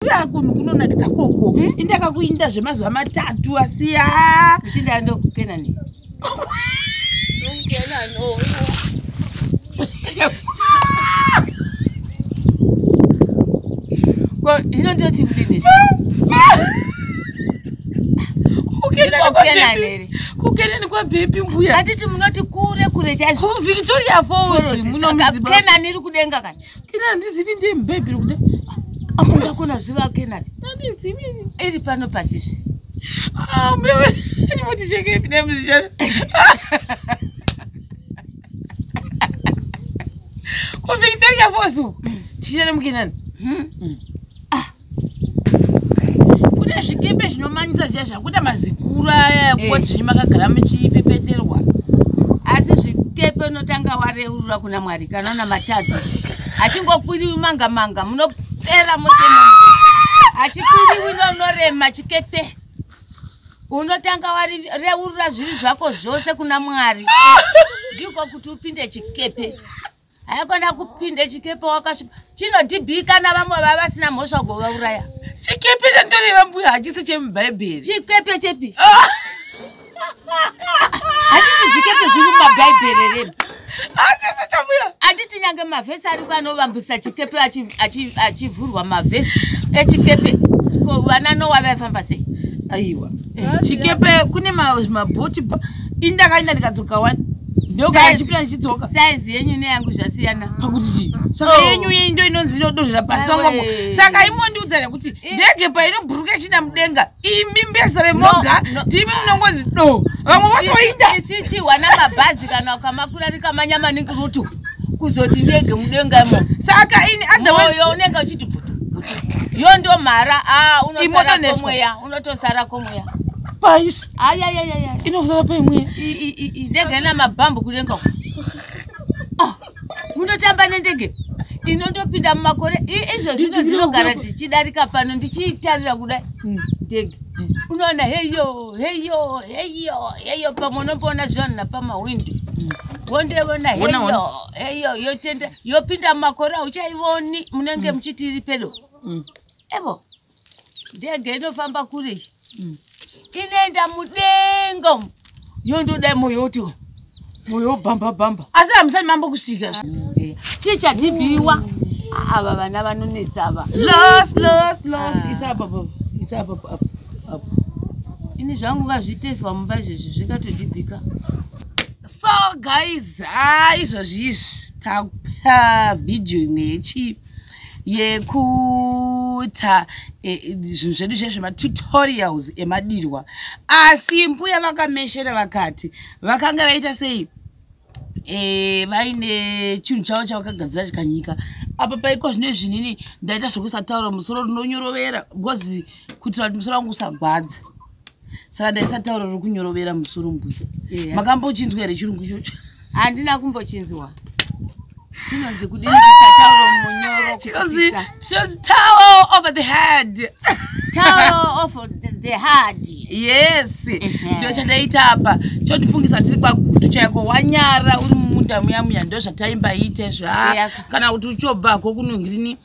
Kuya kunhu kunonakidza koko. Hmm? Indaka kuinda zvemazuva matatu asi ya. Uchinda ndo kukena ni. Kukena no. Ko hino ndo tikudini. kukenani kwabvepi mbuya atiti munoti kure kure chaizvo victoria fallskenani iri kudenga kani Kina ndizivi ndiye mubhebhiri kuda. Amunga kuna ziva kina. Ndizivi. Iri pano pasisi. Ah, mbewe. Ndimoti cheke pine muzishana. Kwa Victoria Fosu. Tishana mkinani. Hmm. hmm. kune zvikepe zvinomanyisa zviya zvakuita mazikuru aya eh. kuti zvinyi makagara muchipepeterwa asi zvikepe unotanga wareurura kuna mwari kana una matadza achingokwiri manga manga munopera mose achikwiri wino unorema chikepe unotanga wareurura zvivi zvako zvose kuna mwari ndiko kuti upinde chikepe haikona kupinde chikepe wakasvipa chinodhibhika navamwe vava vasina mhosva kuvauraya chikepe chandoreva mbuya hachisi chemubhaibheri chikepe chepi ah! hachisi zvikepe zviri mumabhaibheri remi hachisi chambuya handiti nyange mavhesi ariko anovambisa chikepe achivhurwa mavhesi echikepe ko vana nowa vaifamba sei aiwa chikepe kune mabhoti indakaenda ndikadzoka wani ndokachipira ndichidzoka saizi yenyu neyangu zvasiyana pakuti chii saka oh. yenyu iyi ndo inonzi inodozvira pasi wangu saka imondiudza here kuti eh. ndege painobhuruka ichiinda mudenga imi mbesa remoga ndimi munongonzi do vamwe vosoinda isichihwana mabhazi kana ukamakura rikamanya maningi rutu kuzoti ndege mudenga imo saka ini adhamoyo unenge uchiti bvutu yo ndomhara ah, unosaramweya unotosara komweya pais ayayayaya inozara paimweya ndege ina mabhambu kudenga ah, munotamba nendege inotopinda mumakore izvo zvino dzinogara dzichidarika pano ndichiitarira kudai hmm. ndege hmm. unoona heyo heyo heyo heyo pamwe unomboona zvivanhu napamahwindo hmm. wondeona heyo heyo yotenda yopinda mumakore auchaivoni munenge muchiti iri pedo evo ndege inofamba kure iyi mm. inoenda mudenga umu yondoda moyo woti moyo wobhamba bhamba asi hamusati mambo kusvika eh, chii chatibiwa ava vana vanonetsa ava los los los ah. isababa isababa ini zvangu ngazviteswa mumba izvezvi zvikatodibika so guys ha ah, izvozvi izvi takupa vhidhiyo imwe yechii yekuta e, e, zvinhu zvedu zviya zvematutorials emadirwa asi mbuya vakameshera vakati vakanga vaita sei e, vaine chinhu chavo chavakagadzira chikanyika apa paiko zvine zvinini ndaita zvekusataura musoro rinonyorovera because kuitira kuti musoro wangu usagwadza saka ndaisataura uri kunyorovera musoro mbuya yeah. makambochinzwa here chirungu chocho handina kumbochinzwa chinonzi kudii kusataura munyoro chinonzi chinonzi towel over the head towel over the, the head yes ndio chandaita apa chondifungisa tiri kwagutu chaiko wanyara uri mumunda muya muya ndo zvataimba iite zva kana kuti uchobvako kunongirini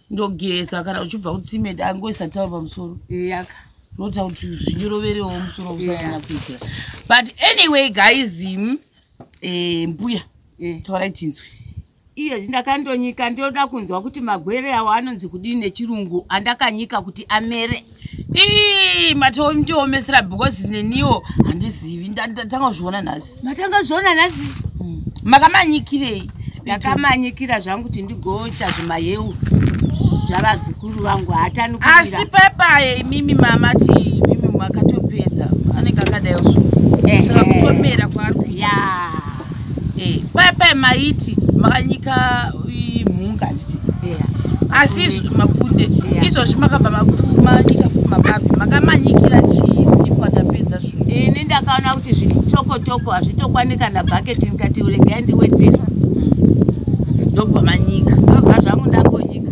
ndogeza kana uchibva kutsime angoisa tauro pamusoro yaka ndoita kuti zvinyiroverewo musoro usanyanya kuitira but anyway guys mm, eh, mbuya taurai tinzwe iyo ndakandonyika ndoda kunzwa kuti magwere awo anonzi kudii nechirungu andakanyika kuti amere ii matoomesera because neniwo handizivi ndatanga kuzviona nhasi matanga kuzviona nhasi hmm. makamanyikirei ndakamanyikira zvangu kuti ndigoita zvimayeu zvavazukuru vangu hatani asi pepaye imimi mama ti imimi makatopedza anenge akadai so saka kutomera kwaari kuya eh, paya paya maiti makanyika mhunga achiti asi mapfunde izvozvi makabva manyika futi mababhi makamanyikira chii steve watapedza zvo ini ndakaona kuti zviri tokotoko hazvitokwani kana bhaketi ndikati uregai ndiwedzera hmm. ndobva manyika ndobva zvangu ndakonyika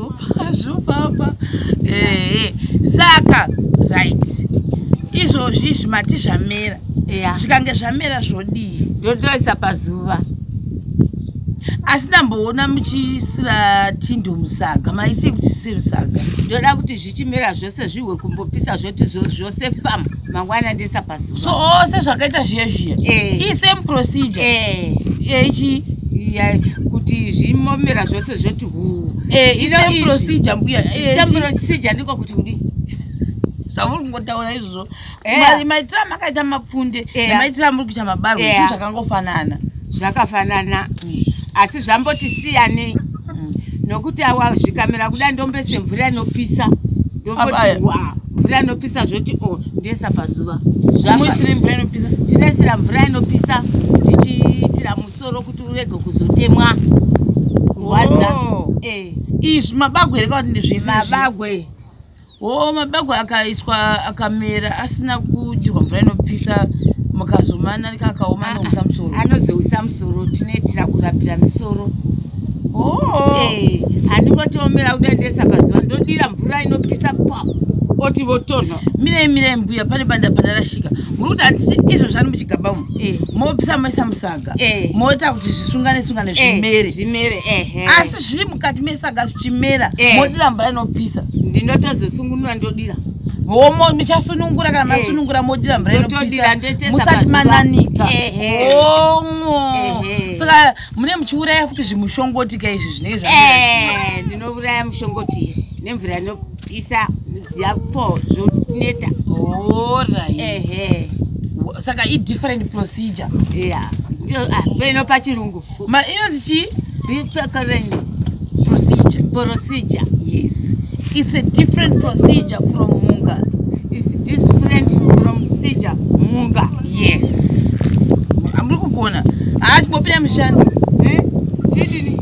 zvopapa ehe saka right izvozvi zvimati zvamera zvikange zvamera zvodii ndotoisa pazuva asi ndamboona muchiisira tindo musaga maisei kuti zvisiri musaga ndoda kuti zvichimera zvose zvihwe kumbopisa zvoti zvose famu mangwana ndesa so oh, sezvakaita zviya zviya eh. ii same procedure eh. yaichii iya kuti zvimomera zvose zvoti huu eh, isame procedure mbuya isame procedure ndiko kuti kudii zvamuri kungotaura izvozvo maitira makaita mapfunde nemaitira muri kuita mabarwa zvinhu zvakangofanana zvakafanana mm. asi zvamboti siyanei mm. nokuti awa zvikamera kuda ndombese mvura inopisa ndomboti wa mvura inopisa zvoti o oh, ndiesa pazuva tinoisira mvura inopisa tichiitira musoro kuti urege kuzotemwa kurwadza oh. eh. izvi mabagwe here kakuti ndizvimabagwe wo mabagwa akaiswa akamera asina kudirwa mvura inopisa mukazomana rika akaoma anousa ah, musoro anozousa musoro tinoitira kurapira misoro oh. eh, andingotiomera kuda ndesa pazuva ndodira mvura inopisa pa oti votonha mirei mirei mbuya pane banda pandarashika muri kuti handisi izvo zvani muchigaba mu eh. mobvisa maisa musaga eh. moita kuti zvisungane sungane eh, zvimere zvimere ehe asi zviri mukati mesaga zvichimera eh. modira mvura inopisa ndinotozosungunura ndodira homo michasunungura kana masunungura modira mvura inopisa musati mananika homo saka mune muchiuraya futi zvimushongoti ka izvi zvinei zva ndinouraya mushongoti nemvura inopisa isa zako zvotineta ehe saka i different procedure yeah ah, peno pachirungu ma inonzi chi recurrent procedure procedure yes it's a different procedure from munga it's different from procedure munga yes amuri kugona haa ah, timopinda mushando eh? chidini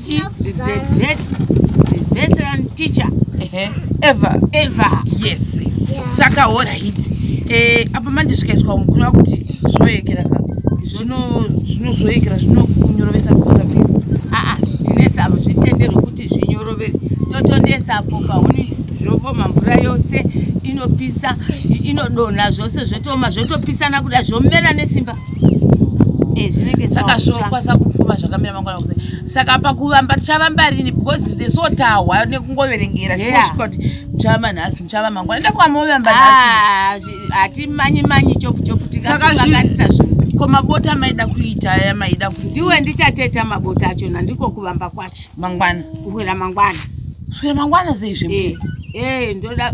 She is the great veteran teacher ever ever yes saka all right eh apa manje zvikaiswa mukuru wakuti zvoyekera ka zvino zvinozoyekera zvinonyorovesa kuza vio aa tine sabo zvitendero kuti zvinyorovere totondesapo pauni zvoboma mvura yose inopisa inodonha zvose zvotoma zvotopisana kuda zvomera nesimba Eh, saka zvokwanisa kupfuma zvakamira mangwana kuse saka pakuvamba tichavamba rini because the so tahwa nekungoverengera zvosvika kuti muchavamba nhasi muchava mangwana ndafuka movamba nhasihatimanyi ah, manyi chopuchopu tikaakanisa zvinhu ko mabota maida kuita aya maida ku ndiwe ndichateta mabota achona ndiko kuvamba kwacho mangwana kuhwera mangwana kuhwera mangwana seizve ee eh, eh, ndoda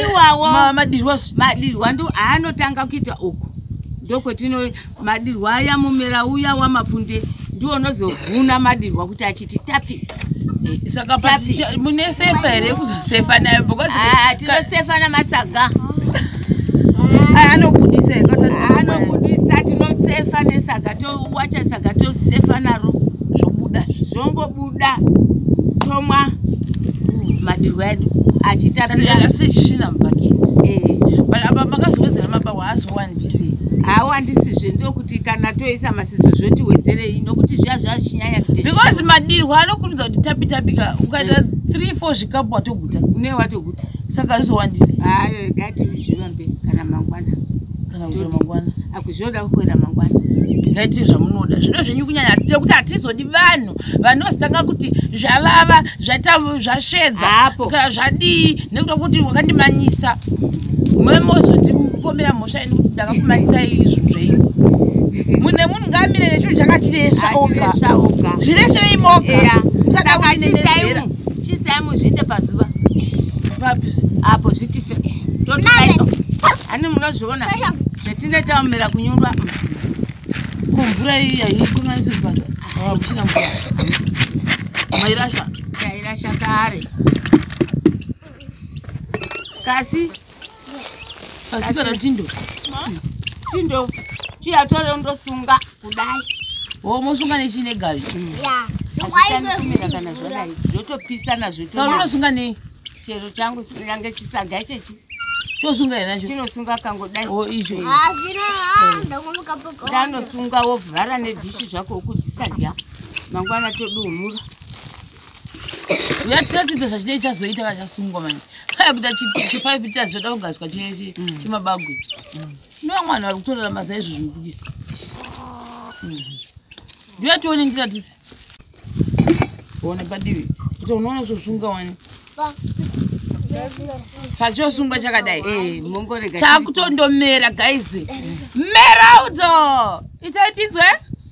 iwawo Ma- madirwa su- madirwa ndo aanotanga kuita uku ndokwetino madirwa aya mumera uya wamapfunde ndiwo unozovhuna madirwa kuti achiti tapi Eh, saka Tapi. pazicha- mune sefa here yekuzosefa nayo because Ah, tinosefa namasaga aya anobudisa here Kati anobudisa. anobudisa tinosefa nesaga towacha saga tosefa naro zvobuda zvongobuda da tomwa madirwa edu achitapirasichisvina mubhaketi eh. but apa makazowedzera maba waazowandise hawandisizve ndokuti kana toisa masiso zvoti wedzerei nokuti zviya zvachinyanya because madirwa anokurudza kuti tapitapika ukaita eh. three four zvikapu watoguta une watoguta saka zvizowandisa hayo gati zviva mberi kana mangwana kana mangwana akuzvioda kuwera mangwana ngaiti zvamunoda zvido zvenyu kunyanya nekuti hatizodi vanhu vanozitanga kuti zvavava zvaita zvasvedza kana zvadii nekuda kuti wakandimanyisa mwe mozondipomera mhosva yenu kuti ndakakumanyisa izvo zvenyu mune munhu ngaamire nechinhu chakachiresva oga zviresherei moga chisai muzviite pazuva apo zvitife totoani munozviona zvatine tamira kunyumba kumvura iyi yaikonanisi basa amuchina mvura mairasha tairasha kare kasi kasi kana tindo tindo chiyatore undosunga kudai wo mosunga nechine gavi achitandikumira kana zvadai zvotopisana zvotosauri unosunga nei chero changu yange chisaga chechi chosunga here nacho chinosunga kangodai o oh, icho ndanosunga wovhara nedhishi zvako ukudzisadya mangwana todumura uyatiratidza zvachidei chazoita vachasungwa mani aibuda chipaipita zvoda kugadzwa chemabagwe mm. nova mwana vari kutorera mazaizvozvinokudia ndiya mm. tione ndiratidze one padivi kuti unoona zvosvunga wani sachosungwa chakadai eh, chakutondomera guys eh. meraudzo itai tinzwe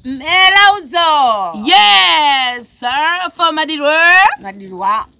meraudzo yes sir for madirwa madirwa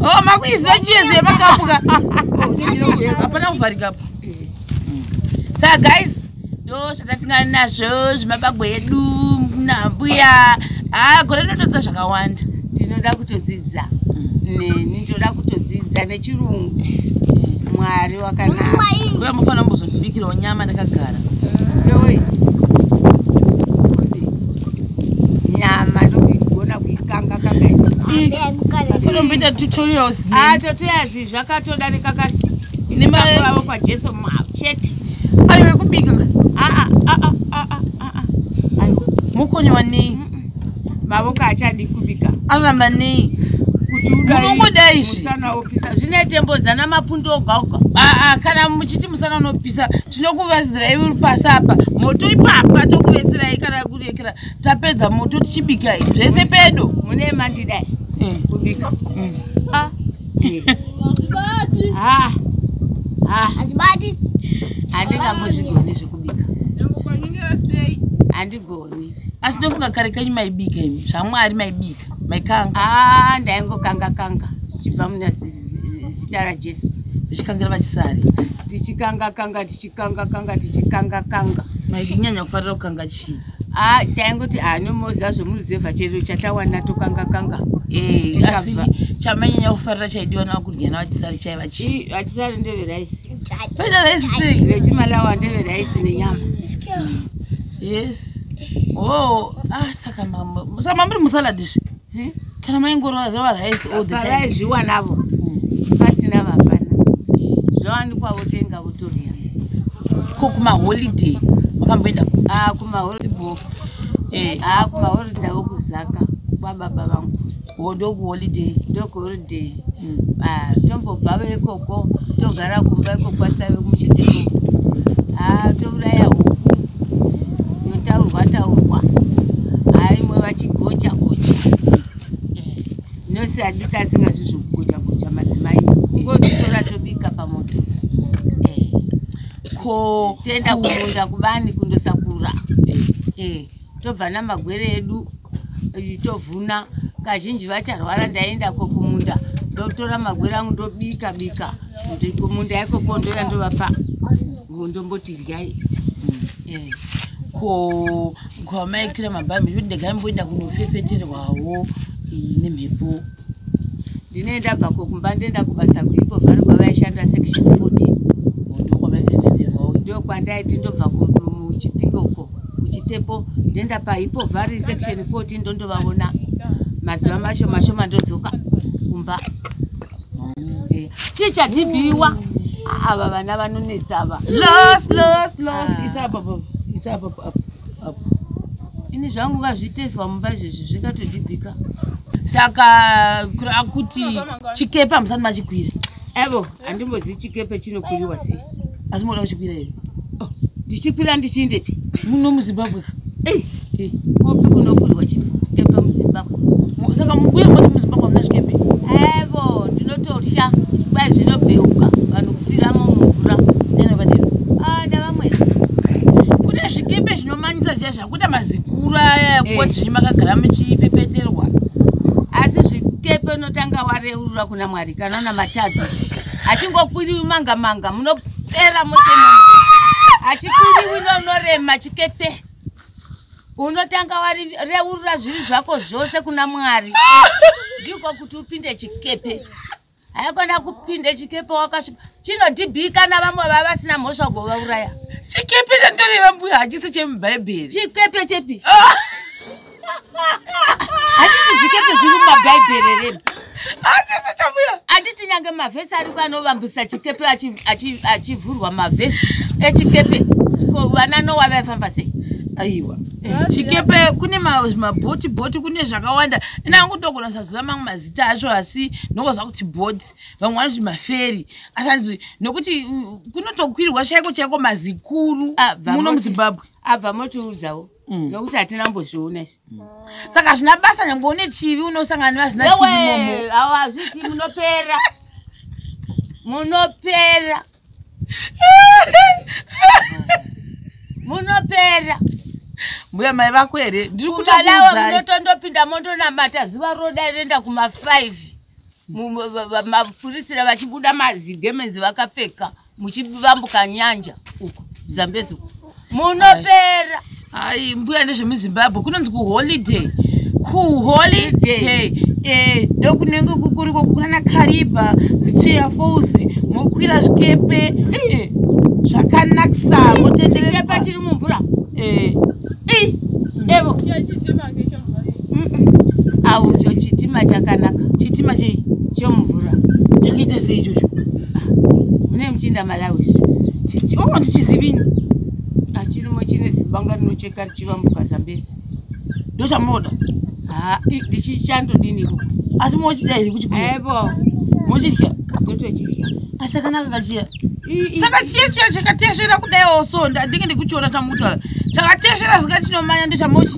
Oh, makuiziva chiyezo yemakapuka oh, hapana kuvharika apo sa guys ndo zvatatingana nazvo zvemabagwe edu nambuya haa gore rinotodzidza zvakawanda tinoda kutodzidza neni ndoda kutodzidza nechirungu mwari wakanaa mufanira kumbozondibikirawo nyama ndakagara nyama ndokuigona kuikanga kakaotomboita tutorials ah, tutorials zvakatoda nekakaiavo kwajesu mao chete ayo ekubika ah, ah, mukonyo wanei mavoko achadi kubika aramba nei kuti udaunongodai zvimusana opisa zvine tembo zana mapundu oga oga kana muchiti musana unopisa tinokuvazirai uri pasi apa moto ipapa tokuvetserai kana kurekera tapedza moto tichibikai zvese pedo mune mandidai eh. kubika mm. ah. ah. ah. handingambozvigoni zvekubika handigoni asi ndofunga kare kanyu maibika imi zvamwari maibika maikanga ndaingokanga kanga zvichibva munasisi zita rajesu tichikangira vachisari tichikanga kanga tichikanga kanga tichikanga kanga mainyanya kufarira kukanga chii ah, taingoti anomozi ah, azvomuruzevha chero chatawana tokanga kanga eh, asi chamanyanya kufarira chaidiwa navakudya navachisari chaiva chii vachisari ndeveraisi peda raisi sei vechimalawa ndeveraisi nenyama yes o oh, ah, saka mamuri musaladizve hmm? kana maingorova rice all the time vavaizviwa navo hmm. pasina vapana zvawanikwa votenga votoria ko kumaholiday vakamboenda ah, kumaholiday eh, ah, kumaholiday ndavo kuzaka kwababa vangu ndokuholiday ndokuholiday day ah, tombobva vekoko togara kumba iko kwasave muchiteko ah, touraya huku yotaurwa taurwa ah, imwe vachigocha gocha eh, nose adi tasinga zvizvokugocha gocha madzimai kungotitora tobika pamoto eh, ko tenda kumunda kubani kundosakura eh, eh. tobva namagwere edu tovhuna kazhinji vacharwara ndaienda ko kumunda ndotora magwere angu ndobika bika kuti kumunda ikoko ndoya ndovapa ndomboti ryai mm. eh. ko kwamaikira mabhabi zvoti ndegara mboenda kunofefeterwawo nemhepo ndine ndabva ko kumba ndoenda kubasa kuipo vari kwavaishanda section 40 ndokwandaiti ndobva kuchipingo uko kuchitepo ndoenda paipo vari section 40 ndondovaona mazuva masho mashoma ndodzoka kumba eh, chii chatibiwa ava vana vanonetsava los los los ah. isapapa isapapa ini zvangu ngazviteswa mumba izvezvi zvingatodibika saka kuti chikepe hamusati machikwira evo handimbozivi chikepe chinokwiriwa sei asi moda kuchikwira here oh, ndichikwira ndichiindepi muno muzimbabwe kupi kunokwirwa chikepe muzimbabwe saka mubuye moti muzimbabwe hamuna zvikembe evo ndinototya kwai zvinobheuka vanhu kufiramo mumvura nenokadii ada ah, vamwene kune zvikembe zvinomanyisa zviya zvakuita mazikuru aya eh. kuti zvinyi makagara muchipepeterwa asi zvikepe unotanga wareurura kuna mwari kana una matadza achingokwiri manga manga munopera mose achikuri wino unorema chikepe unotanga wareurura zvivi zvako zvose kuna mwari ndiko kuti upinde chikepe haikona kupinde chikepe wakasvipa chinodhibhikana vamwe vava vasina mhosva kuvauraya chikepe chandoreva mbuya hachisi chemubhaibheri chikepe chepi ah! hazvisi zvikepe zviri mumabhaibheri rema anditi nyange mavhesi ariko anovambisa chikepe achivhurwa mavhesi echikepe ko vana nowa vaifamba sei aiwa eh, chikepe kune mabhoti bhoti kune zvakawanda ina angu ndogona saziva mamwe mazita acho asi ndokoza kuti bhoti vamwe vanoti maferi asi anzi nokuti uh, kunotokwirwa chaiko chaiko mazikuru ah, muno muzimbabwe abva ah, motiudzawo Mm. nokuti hatina mbozviona izvi mm. saka zvina basa nyange une chivi unosangana nevazvina chivi awo hazviti munopera munopera munopera mbuya mai vako here ndiri kutalawa munotondopinda mondonamata zuva roda renda kuma 5 mapurisira vachibuda mazigemenzi vakapfeka mm. muchivambuka nyanja uko zambezi uko munopera hai mbuya nezvemuzimbabwe kunonzi kuholiday kuholiday eh, ndokunenge kukuriko kunana kariba victoria falls mokwira zvikepe eh, zvakanakisa motenderekepa chiri mumvura eh. evo auzvo chitima chakanaka chitima chei chomvura chakaita sei ichocho mune muchinda malawi onga ndichizivini achirimo chine zibanga rinocheka richivambuka zambezi ndo chamunoda ndichichandodini ikoko asi mochida here kuti aibo mochidya ndotochidya asi chakanaka kachiya saka chiya chiya chakatesvera kudai osonda ndinge ndikuchiona chamutwala chakatesvera zika chinomanya ndochamochi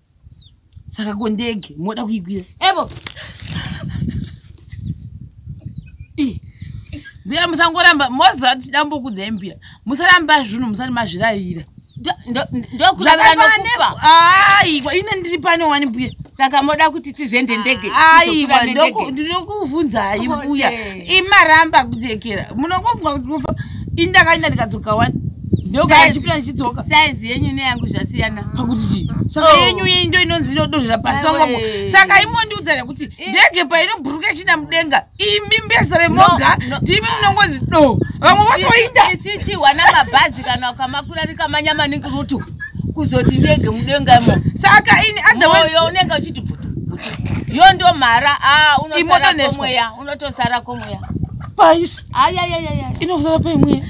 saka ko ndege moda kuikwira ebo mbuya musangoramba moziva kuti dambokudzai mbuya musaramba zvinhu musati mazviravira ndokuaiwa ine ndiri pane wani mbuya saka moda kuti tizende ndege aiwa ndokuvhunzai mbuya imaramba kudzekera munongofunga kuti mufa ini ndakaenda ndikadzoka wani ndokaachipira ndichidzoka saizi yenyu neyangu zvasiyana pakuti chii saka oh. yenyu iyi ndo inonzi inodonhera pasi pamwamo saka imondiudza rekuti eh. ndege painobhuruka ichiinda mudenga imi mbesa remoga ndimi munongonzi do vamwe vose voinda isichihwa namabhazi kana ukamakwira rikamanya maningi rutu kuzoti ndege mudengamo saka ini adhaoyo unenge uchiti bvutu yo ndomhara ah, unosaramweya unotosara komweya pais ayayayaya inozara paimweya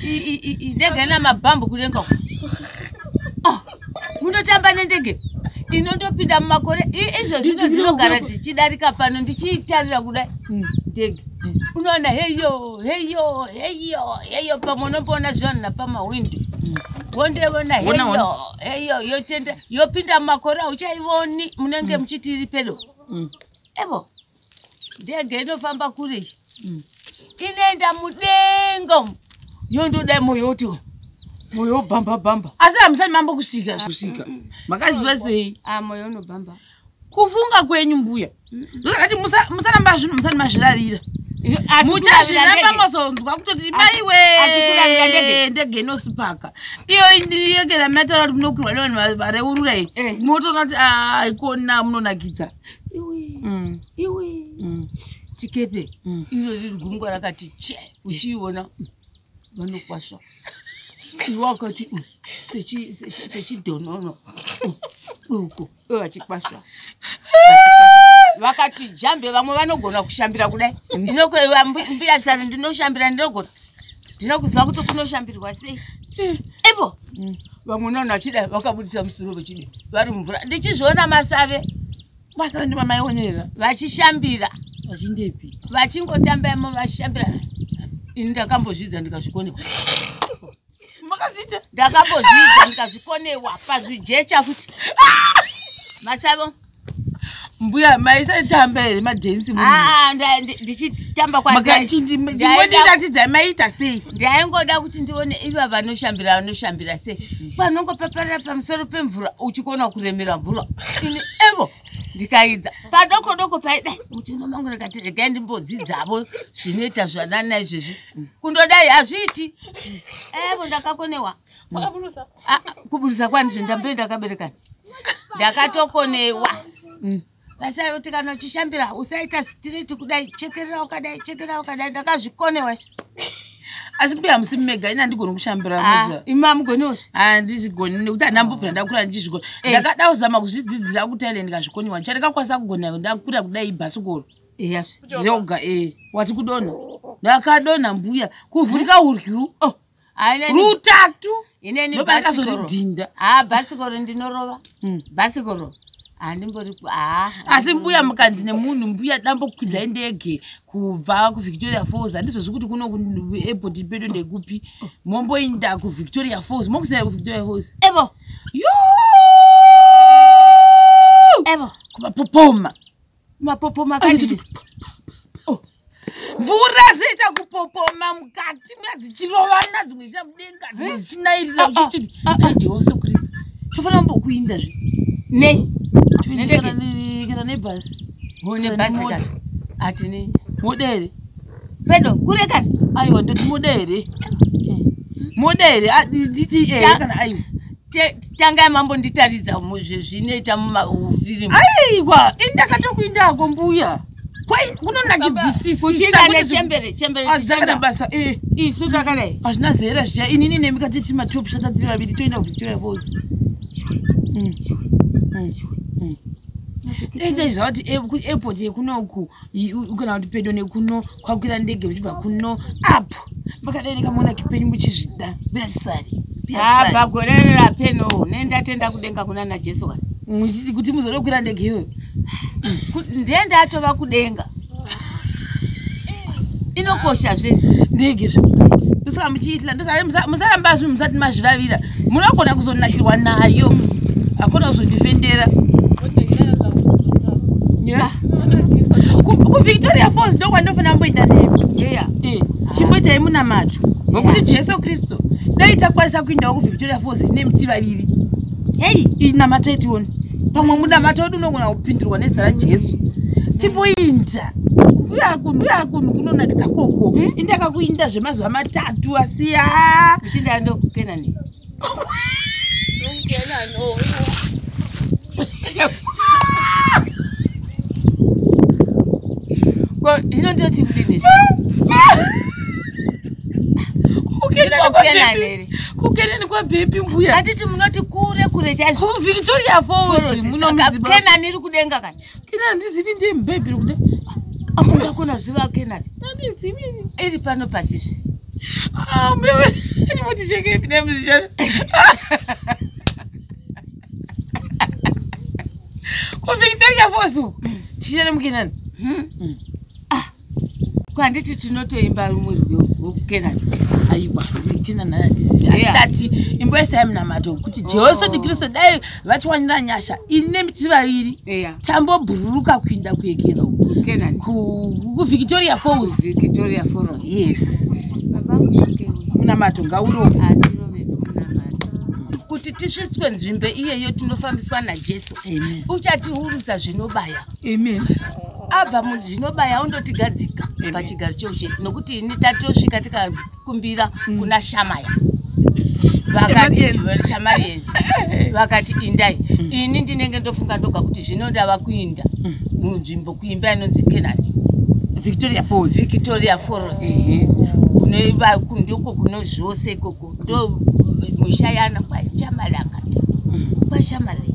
ndege na mabhambu kudenga ah, munotamba nendege inotopinda mumakore izvo zvino dzinogara dzichidarika pano ndichiitarira kudai hmm. ndege hmm. unoona heyo heyo heyo heyo pamwe unomboona zvivanhu napamahwindo hmm. wondeona heyo heyo yotenda yopinda mumakore auchaivoni munenge muchiti iri pedo evo ndege inofamba kure iyi mm. inoenda mudenga yondoda moyo woti moyo wobhamba bhamba asi hamusati mambo kusvika kusvika makaziva sei ah, moyo unobhamba kufunga kwenyu mbuya ndozakati musaramba zvinhu musati mazvirarira muchazviramba mozonzwa kutoti maiwe ndege inosipaka iyo yekera mataura kuti munokwirwa nevanhu vareurura iyi eh. motoona kuti ah, haikona munonakidza iwe mm. iwe mm. chikepe mm. iro riri gungwa rakati che uchiiona vanokwasva iwe wakati sechidhonono duku iwe vachikwasva vakati jambe vamwe vanogona kushambira kudai ndinokueva mbuya sare ndinoshambira ndinogona ndina kuziva kuti kunoshambirwa sei eh. ivo mm. vamwe nano achida vakabudisa musoro vechide vari mumvura ndichizviona masave masave ndimamaionera vachishambira vachindepi vachingotamba imo vachishambira ini ndakambozvidza ndikazvikonewa ndakambozvidza ndikazvikonewa pazvijecha futi masavo mbuya maisatamba here madhensi ah, ah, ndichitamba kwandichindimbotiratidza maiita sei ndaingoda kuti ndione iva vanoshambira vanoshambira sei panongopaparira pamusoro pemvura uchikona kuremera mvura ini evo ndikaidza padoko doko paidai muchino mangu ndikati regai ndimbodzidzavo zvinoita zvanana izvezvi kundodai hazviiti evo ndakakonewa Wakaburusa. Ah, ah, kuburusa kwani zve ndambe ndakaberekana ndakatokonewa Mm. vasara kuti kana uchishambira usaita straight kudai chekerera ukadai chekerera ukadai ndakazvikonewa asi mbuya hamusi mega ini handigoni kushambira muza imi amugoneosi handizvigoni nekuti handambobvira ndakura ndichizvigona Eh. ndakada kuzama kuzvidzidzira kutaile ndikazvikoniwa ndichandakakwanisa kugona ndakura kudai ibhasikoro yes Kuchova. yoga e wati kudona ndakadona mbuya kuvhurika uryu oh rutatu inenibasikorodhinda haa ah, bhasikoro ndinorova hmm. bhasikoro handimboripo ah, ah, asi mbuya mukanzi nemunhu mbuya dambokwidzai ndege kubva kuvictoria falls handizozvi kuti kuno kuairport pedo ndekupi momboinda kuvictoria falls mokusaira kuvictoria falls evo yo evo kubapopoma mapopoma akadii oh. mvura zviita kupopoma mukati mwa dzichirovana dzimwe zviita mudenga dzimwe dzichinairira ah, ah, uchiti ah, dai jehovha sekristu tofanira kumbokuinda zve nei kana nebhasi nebhasi ati nei modere pedo kure kani aiwa ndoti modere eh. modere dta kana aiwa tangai mambo nditaridza zvinoita mufirimu aiwa ini ndakatokuindako mbuya kunonakidisisisabasa eh. isu takadai hazvina zera zviya inini nemi katiti matop shata tiri vaviri toenda kuvictoria fos ndaiziva kuti airport yekunoku kana kuti pedo nekuno kwakwira ndege muchibva kuno apo makadai nekamona kipenyu muchizvida beyachisari abva ah, gore rerapeno nendatenda kudenga kuna najesu kana muchiti kuti muzode kukwira ndege iyoyo ndiye ndatova kudenga inokosha zve ndege zve ndosaka muchiitira ndosaka musaramba zvinhu musati mazviravira munogona kuzonakirwa nayo hakuna kuzondifendera kuvictoria falls ndokwandofanira mboita nemi eh, chimboitai munamato nokuti jesu kristu dai takwanisa kuindawo kuvictoria falls nemi ti vaviri hei inamatai tione pamwe munamato wedu unogona kupindirwa nezita rajesu timboinda uyakunhu uyakunhu kunonakidza koko eh? indakakuinda zvemazuva matatu asiya Uchinda ndo kuKenani. Kenani. Oh. Kwa hino ndio timu nini? kukenani kwabvepi mbuya atiti munoti kure kure chaizvo kuvhiritori yafozi munomuziba kenani iri kudenga kani Kina ndizivi ndiye mubhebhiri kuda. Amunda kona ziva kena. Ndizivi. Iri pano pasisi. Ah, mbewe. Ndimoti cheke pine muzishana. Kwa Victoria Fosu. Tishana mkinani. Hmm. hmm. ko handiti tinotoimba rumwe rwiyo wokukenani aiwa ndikenani anandisivi asi Yeah. ndati imbo yese yamunamato kuti jehoso ndikristu dai vatiwanira nyasha ine miti vaviri eya tambobhururuka kuinda kuekera uku. kukenani Ku- kuvictoria falls victoria foros yes babangu shoke uyu munamato ngauro atirove nomunamato kuti tisvitswe nzvimbo iyeyo tinofambiswa najesu Amen. uchatiurisa zvinobaya amen abva muzvinobaya undotigadzika pachigaro cheushe nokuti ini tatosvika tikakumbira mm. kuna shamaya vakatisamarienzi vakati indai mm. ini ndinenge ndofunga ndoga kuti zvino ndava kuinda mm. munzvimbo kuimba inonzi kenani victoria falls victoria falls ndiko kuno zvose ikoko ndo musha yana kwashamari akata kwashamari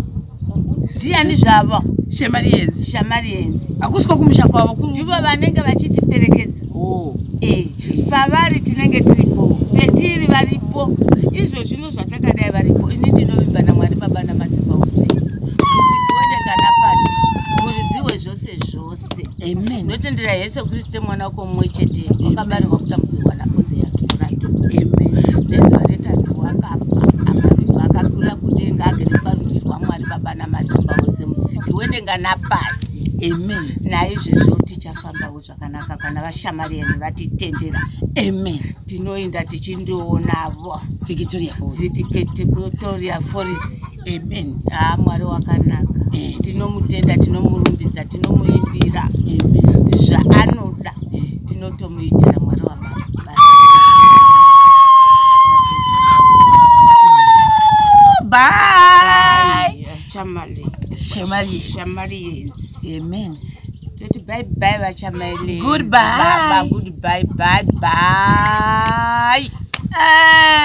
ndiani zvavo shamarienzi shamarienzi hakusi kwakumusha kwavo ndivo vanenge vachitiperekedza oh. eh, pavari tinenge tiripo petiri varipo izvo zvino zvatakadai varipo ini ndinovimba namwari baba namasimba usiku usiku wede kana pasi muridziwe zvose zvose Amen. Notendera Yesu Kristu mwana wako mumwe chete wakabarirwa kutambudzirwa nakonze yake right. Amen. Nezuva retatu wakafa akavigwa akakwira kudenga agere parudyi rwaMwari Baba namasimba ose musiki wedenga napasi. Amen. Naizvozvo tichafambawo zvakanaka kana vashamari yenu vatitendera. Amen. Tinoenda tichindionavo. Victoria Falls. Victoria Falls. amen haa mwari wakanaka eh. tinomutenda tinomurumbidza tinomuimbira zvaanoda eh. tinotomuitira mwari wamama amen toti bye bye vachamaile goodbye bye bye bye bye bye eh.